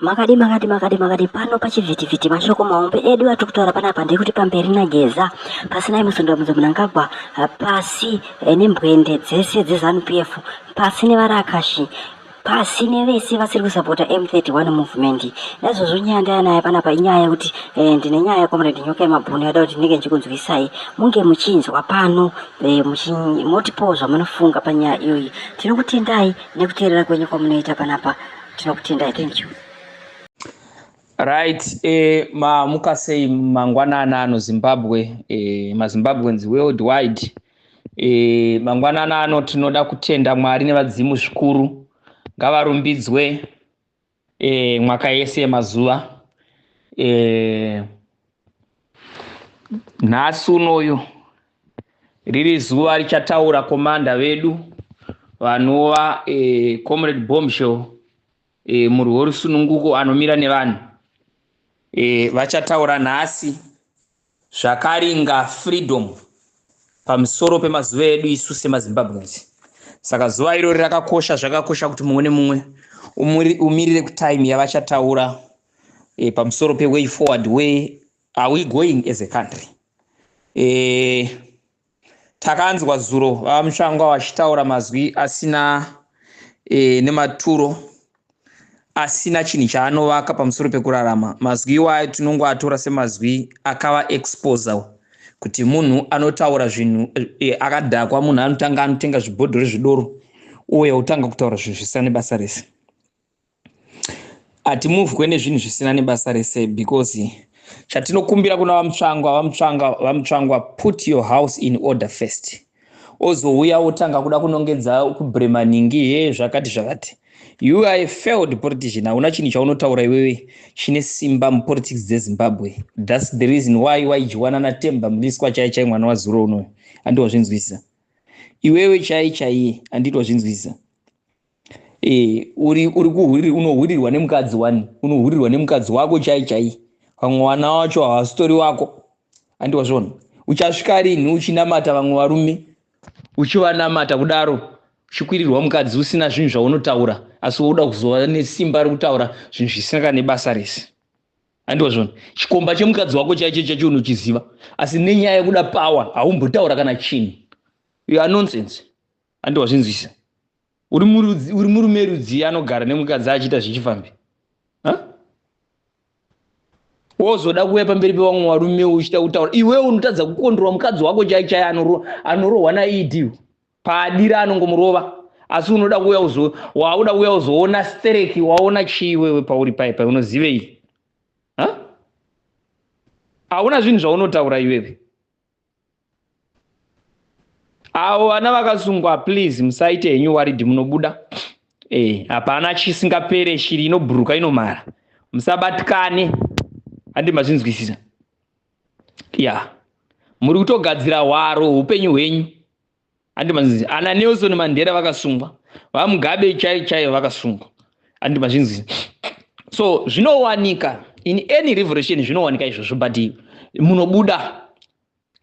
Makadi makadi makadi makadi pano pachivhitivhiti mashoko mahombe edu atiri kutaura panapa ndekuti pamberi nageza pasinai musundamudza munangagwa pasi eh, nembwende dzese dzezanu p f pasi nevarakashi pasi nevese vasiri kusapota m31 movement naizvozvo nyaya ndayanayo panapa inyaya yekuti eh, ndine nyaya yecomrade nyoka yemabhunu yada kuti ndinenge ndichikunzwisai munge muchinzwa pano eh, motipowo zvamunofunga panyaya iyoyi tinokutendai nekuteerera kwenyu kwamunoita panapa tinokutendai thank you right eh, maamuka sei mangwanana ano zimbabwe eh, mazimbabweans world wide eh, mangwanana ano tinoda kutenda mwari nevadzimu zvikuru ngavarumbidzwe eh, mwaka yese yemazuva eh, nhasi unoyu riri zuva richataura komanda vedu vanova eh, comrade bombshell eh, murwi worusununguko anomira nevanhu eh, vachataura nhasi zvakaringa freedom pamusoro pemazuva edu isu semazimbabweans saka zuva irori rakakosha zvakakosha kuti mumwe nemumwe umirire kutime yavachataura e, pamusoro peway forward where are we going as a country e, takanzwa zuro vamushango vachitaura mazwi asina e, nematuro asina chinhu chaanovaka pamusoro pekurarama mazwi iwayo tinongoatora semazwi akava exposer kuti munhu anotaura zvinhu e, akadhakwa munhu anotanga anotenga zvibhodhori zvidoro uye otanga kutaura zvinhu zvisina nebasa rese hatimuvwe nezvinhu zvisina nebasa rese because chatinokumbira kuna vamutsvangwa vamutsvanga vamutsvangwa put your house in order first ozouya wotanga kuda kunongedza kubremanhingi he zvakati zvakati you are a failed politician hauna chinhu chaunotaura iwewe chine simba mupolitics dzezimbabwe thats the reason why waidyiwana natemba mliswa chai chai mwana wazuro unoyo andiwazvinzwisisa iwewe chai chaiye anditi wazvinzwisisa Eh, uri uri kuhuri unohurirwa nemukadzi wani unohurirwa nemukadzi wako chai chai vamwe wana wacho hawasitori wako andi wazviona uchasvika rinhi uchinamata vamwe varume uchivanamata kudaro uchikwirirwa mukadzi usina zvinhu zvaunotaura asi wouda kuzova nesimba rekutaura zvinhu zvisina kana nebasa rese andi wazviona chikomba chemukadzi wako chaicho chacho unochiziva asi nenyaya yekuda pawa haumbotaura kana chinhu you are nonsense handi wazvinzwisa uri murume rudzii anogara nemukadzi achiita zvichifambi wozoda kuuya pamberi pevamwe varume uchita kutaura iwewe unotadza kukondorwa mukadzi wako chai chai anorohwa naed paadira anongomurova asi unoda kuuya uzo wauda kuuya uzoona stereki waona chii iwewe pauri pai pai unozivei hauna zvinhu zvaunotaura iwewe avo vana vakasungwa please musaite henyu waridhi munobuda eh, hapana chisingapere shiri inobhuruka inomara musabatikane handi mazvinzwisisa ya muri kutogadzira hwaro upenyu hwenyu handi mazvinzi ana nelson mandera vakasungwa vamugabe chaivo chaivo vakasungwa handi mazvinzi so zvinowanika in any revolution zvinowanika izvozvo but munobuda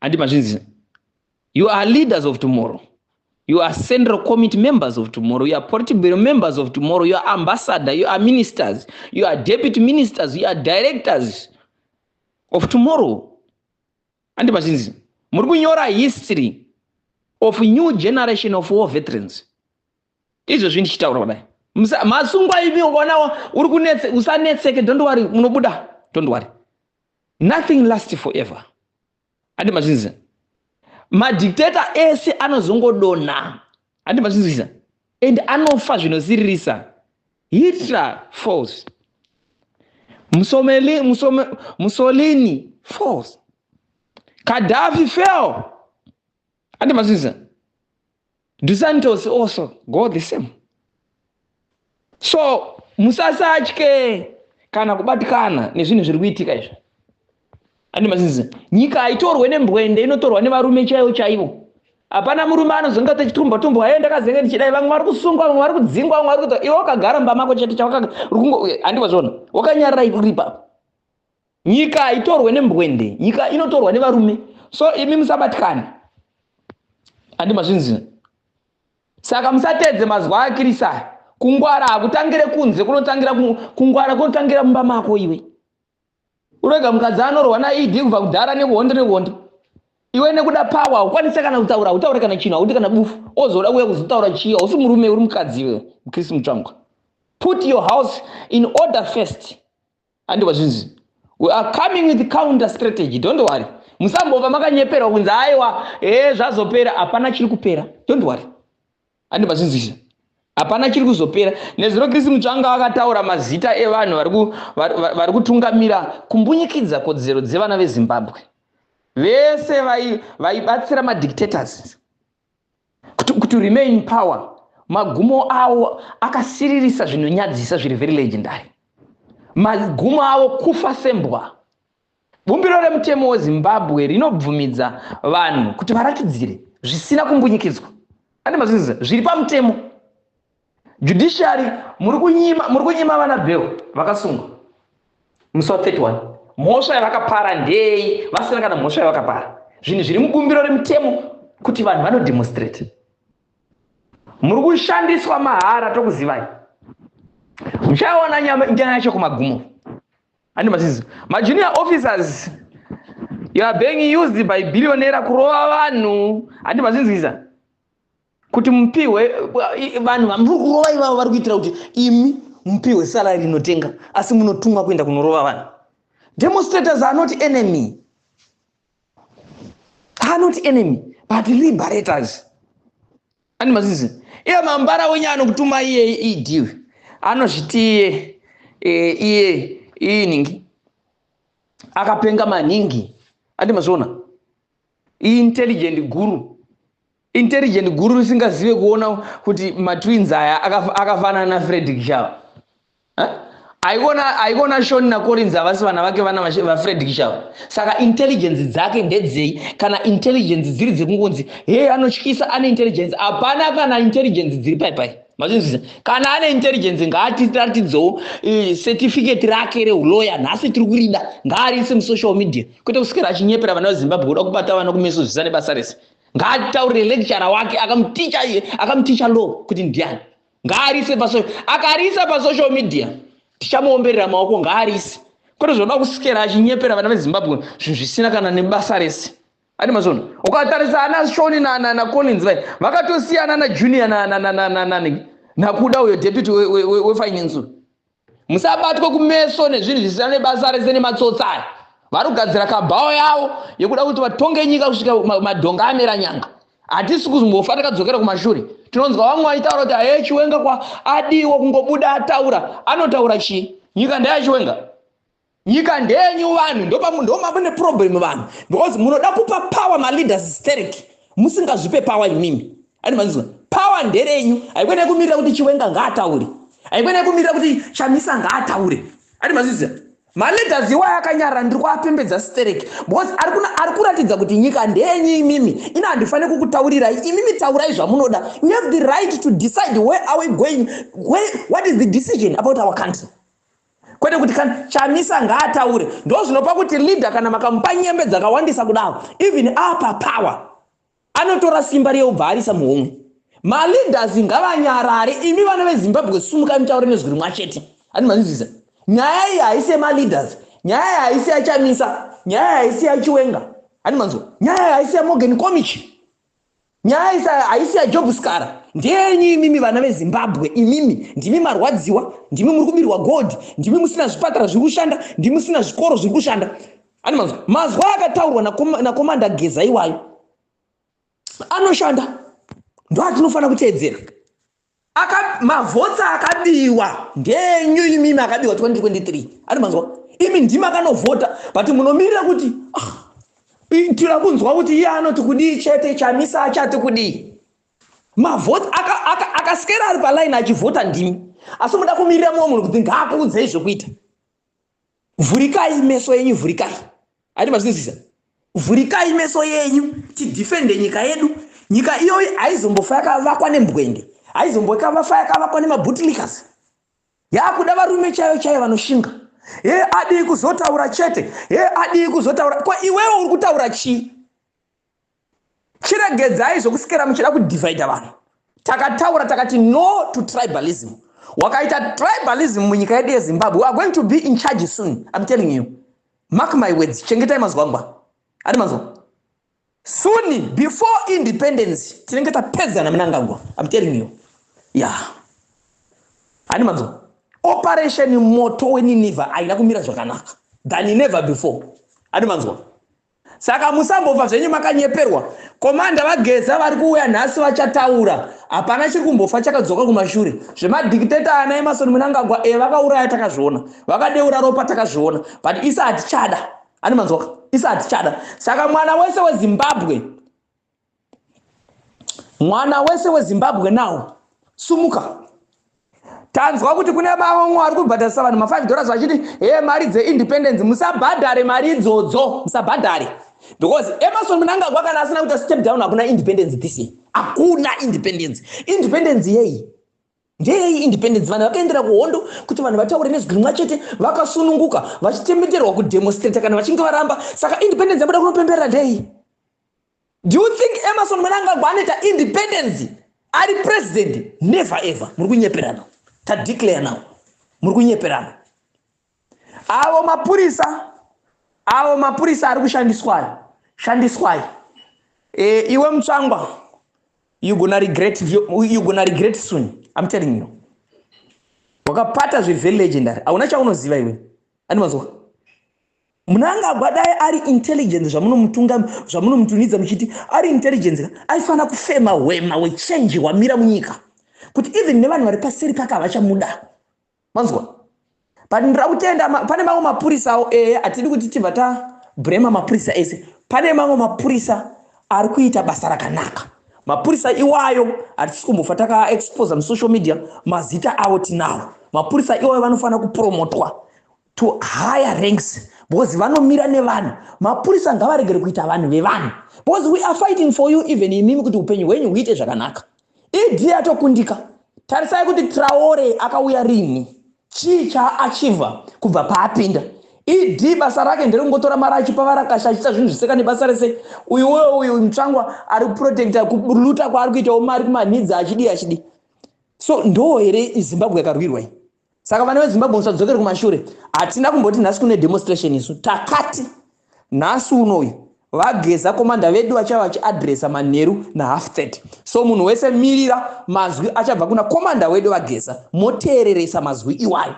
handi mazvinzi you are leaders of tomorrow you are central committee members of tomorrow you are political members of tomorrow you are ambassador you are ministers you are deputy ministers you are directors of tomorrow Andi vachinzi muri kunyora history of new generation of war veterans. Izvozvi ndichitaura kudai. Masungwa ivi ukaona uri kunetse usanetseke don't worry munobuda don't worry. Nothing lasts forever. Andi vachinzi madictator ese anozongodonha. Andi vachinzi and anofa zvinosiririsa. Hitler false. Musomeli, musome, Mussolini false. Gaddafi fell. Ati mazviza. Dusantos also go the same. So musasatye kana kubatikana nezvinhu zviri kuitika izvi. ane mazizi nyika haitorwe nembwende inotorwa nevarume chaivo chaivo hapana murume anozonga techitumba tumba aye ndakazenge ndichidai vamwe vari kusungwa vamwe vari kudzingwa vamwe vari kuita iwe wakagara mumba mako chete chawakandiwa zvona wakanyarira ikuripa nyika haitorwe nembwende nyika inotorwa nevarume so imi musabatikane handi mazvinzi saka musatedze mazuva akirisa kungwara hakutangire kunze kunotangira kungwara kunotangira mumba mako iwe Urega mukadzi anorwa na ED kubva kudhara nehondo nehondo. Iwe nekuda power ukwanise kana kutaura, utaure kana chino, uti kana bufu. Ozoda kuya kuzotaura chii? Usi murume uri mukadzi iwe, Chris Mutsvangwa. Put your house in order first. Andi wazvinzi. We are coming with counter strategy. Don't worry. Musambova makanyeperwa kunzi aiwa, eh zvazopera, hapana chiri kupera. Don't worry. handi mazvinzwisisa hapana chiri kuzopera nezuro kristu mutsvanga vakataura mazita evanhu vari kutungamira kumbunyikidza kodzero dzevana vezimbabwe vese vaibatsira vai madictators to remain in power magumo avo akasiririsa zvinonyadzisa zviri very legendary magumo avo kufa sembwa Bumbiro remutemo weZimbabwe rinobvumidza vanhu kuti varatidzire zvisina kumbunyikidzwa ane mazvinziza zviri pamutemo judiciary muri kunyima muri kunyima vana bheo vakasungwa musi wa 31 mhosva yavakapara ndei vasina kana mhosva yavakapara zvinhu zviri mubumbiro remutemo kuti vanhu vanodemonstrate muri kushandiswa mahara tokuzivai muchaona nyaya yacho kumagumo ani masizi majunior officers you are being used by billionaire kurova vanhu handi mazinzwiza kuti mupihwe vanhu vamuri kurova ivavo vari kuitira kuti imi mupihwe salari inotenga asi munotumwa kuenda kunorova vanhu demonstrators are not enemy are not enemy but liberators Ani mazizi. Iye mambara wenye anokutuma iye ED. Anozviti iye e, iye iye ningi. Akapenga maningi. Andi mazona. Intelligent guru. Intelligent guru risingazive kuona kuti matwins aya akafanana na Fredrick Shava. aivona aivona shoni nacorinzi havasi vana vake vana vafred kishava saka intelligence dzake ndedzei kana intelligence dziri dzekungonzi hee anotyisa ane intelligence hapana kana intelligence dziri pai pai mazvinzwisa kana ane intelligence ngaatiratidzewo eh, certificate rake reuloya nhasi tiri kurida ngaariise musocial media kwete kuswera achinyepera vana vezimbabwe kuda kubata vana kumeso zvisane basa rese ngaataurire lecturer wake akamuticha akamuticha law kuti ndiani ngaarise pasocial akariisa pasocial media tichamuomberera maoko ngaarise kwete zvinoda kusikera achinyepera vana vezimbabwe zvinhu zvisina kana nebasa rese ane mazvono ukatarisa ana shoni nacollins vai vakatosiyana najunior nakuda uyo deputy wefinance musabatwe kumeso nezvinhu zvisina nebasa rese nematsotsi aya vari kugadzira kabhawa yavo yekuda kuti vatonge nyika kusvika madhonga amera nyanga hatisi kuzombofa takadzokera kumashure tinonzwa vamwe vaitaura kuti haye chiwenga kwa adiwo kungobuda ataura anotaura chii nyika ndeyachiwenga Nyika ndenyu vanhu ndomamune problem vanhu because munoda kupa power maleaders sterek musingazvipe power imimi and manzwa power nderenyu haikwe nekumirira kuti chiwenga ngaataure haikwe nekumirira kuti chamisa ngaataure and manzwa maleaders iwayo akanyarara ndiri kuapembedza sterek because ari kuratidza kuti nyika ndenyu imimi ino handifanire kukutaurirai imimi taurai zvamunoda you have the right to decide where are we going where, what is the decision about our country kwete kuti kana chamisa ngaataure ndozvinopa kuti leader kana makamupa nyembe dzakawandisa kudaro even apa power anotora simba riye ubva arisa muhomwe maleaders ngavanyarare imi vana vezimbabwe sumuka mutaure nezwi rimwa chete ani manzwiza nyaya iyi haisi yemaleaders nyaya iyi haisi yachamisa nyaya iyi haisi yachiwenga ani manzwa nyaya iyi haisi yamogen comichi Nyaya isa haisi ya Job Skara. Ndeyenyu imimi vana veZimbabwe imimi ndimi marwadziwa, ndimi muri kubirwa gold, ndimi musina zvipatara zviri kushanda, ndimi musina zvikoro zviri kushanda. Ani mazwi mazwi akataurwa na Komanda Geza iwayo anoshanda ndoatinofanira kuteedzera. Aka, mavhotsi akabiwa ndenyu imimi akabiwa 2023 ari manzwa imi ndima akanovhota but munomirira kuti ah, tira kunzwa kuti iye anoti kudii chete chamisa achati kudii mavhoti akasikera ari palaini achivhota ndimi asi muda kumirira mumwe munhu kuti ngaakuudzei zvekuita vhurikai meso yenyu vhurikai ati mazvinzwisa vhurikai meso yenyu tidhifende nyika yedu nyika iyoyi haizombofa yakavakwa nembwende haizombokavafa yakavakwa nemabutilikas yakuda varume chaiyo chaiyo vanoshinga he adii kuzotaura chete he adii kuzotaura ko iwewe uri kutaura chii chiregedzai zvokusikera muchida kudivhaidha vanhu takataura takati no to tribalism wakaita tribalism munyika yedu yezimbabwe weare going to be in charge soon im telling you mark my words chengetai mazwangwa ati mazwa suni before independence tinenge tapedzana munangagwa im telling you ya yeah. ati mazwa operation moto weniniva aina kumira zvakanaka than never before ati mazwa Saka musambofa zvenyu makanyeperwa. Komanda vaGeza vari kuuya nhasi vachataura. Hapana chiri kumbofa chakadzoka kumashure. Zvemadictator ana Emerson Mnangagwa e eh, vakauraya takazviona. Vakadeura ropa takazviona. But isa hatichada. Ani manzwaka? Isa hatichada. Saka mwana wese weZimbabwe mwana wese wezimbabwe now sumuka tanzwa kuti kune maongo ari kubhadharisa vanhu ma5 dollars vachiti he mari dzeindependence musabhadhare mari idzodzo musabhadhare because emerson munangagwa kana asina kuita step down hakuna independence this year hakuna independence independence yei ndeyei independence vanhu vakaendera kuhondo kuti vanhu vataure nezwi rimwa chete vakasununguka vachitemeterwa kudemonstrata kana vachinge varamba saka independence yabuda kunopemberera ndeyei Do you think Emerson Mnangagwa anoita independence ari president? Never ever. Muri kunyeperana. Ta declare now. Muri kunyeperana. Avo mapurisa avo mapurisa ari kushandiswayo shandiswai e, iwe mutsvangwa you gonna regret you gonna regret soon i'm telling you wakapata zvevelegendary hauna chaunoziva iwe andimazoka Mnangagwa dai ari intelligence zvamunomutunga zvamunomutunidza muchiti ari intelligence ka aifana kufema hwema wechange hwamira munyika kuti even nevanhu vari paseri pake havachamuda manzwa pandira kutenda pane mamwe mapurisa awo ee hatidi kuti tibva ta brema mapurisa ese pane mamwe mapurisa ari kuita basa rakanaka mapurisa iwayo hatisi kumbofa takaexposa musocial media mazita avo tinawo mapurisa iwayo vanofanira kupromotwa to higher ranks because vanomira nevanhu mapurisa ngavaregere kuita vanhu vevanhu because we are fighting for you even imimi kuti upenyu hwenyu huite zvakanaka ed atokundika tarisai kuti traore akauya rini chii chaachiva kubva paapinda ed basa rake nderekungotora mari achipa varakasha achiita zvinhu zviseka nebasa rese uyuwe uyu mutsvangwa ari kuprotecta kuluta kwaari kuitawo mari kumanhidzi achidii achidii so ndoo here zimbabwe yakarwirwai saka vana vezimbabwe musadzokere kumashure hatina kumboti nhasi kune demonstration isu takati nhasi unoyu vageza komanda vedu vachava vachiadresa manheru nahalf 30 so munhu wese mirira mazwi achabva kuna komanda wedu vageza moteereresa mazwi iwayo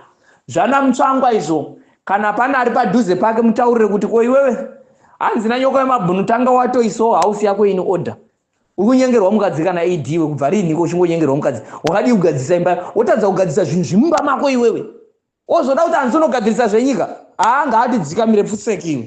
zvana mutsvangwa izvo kana pane ari padhuze pake mutaurire kuti ko iwewe hanzi nanyoko yemabhunu tanga watoisawo hausi yako ini order uri kunyengerwa mukadzi kana ad iwe kubva riiniko uchingonyengerwa mukadzi wakadii kugadzirisa imba wotadza kugadzirisa zvinhu zvimumba mako iwewe ozoda kuti anzonogadzirisa zvenyika haa ngaatidzikamire pfutseki iwe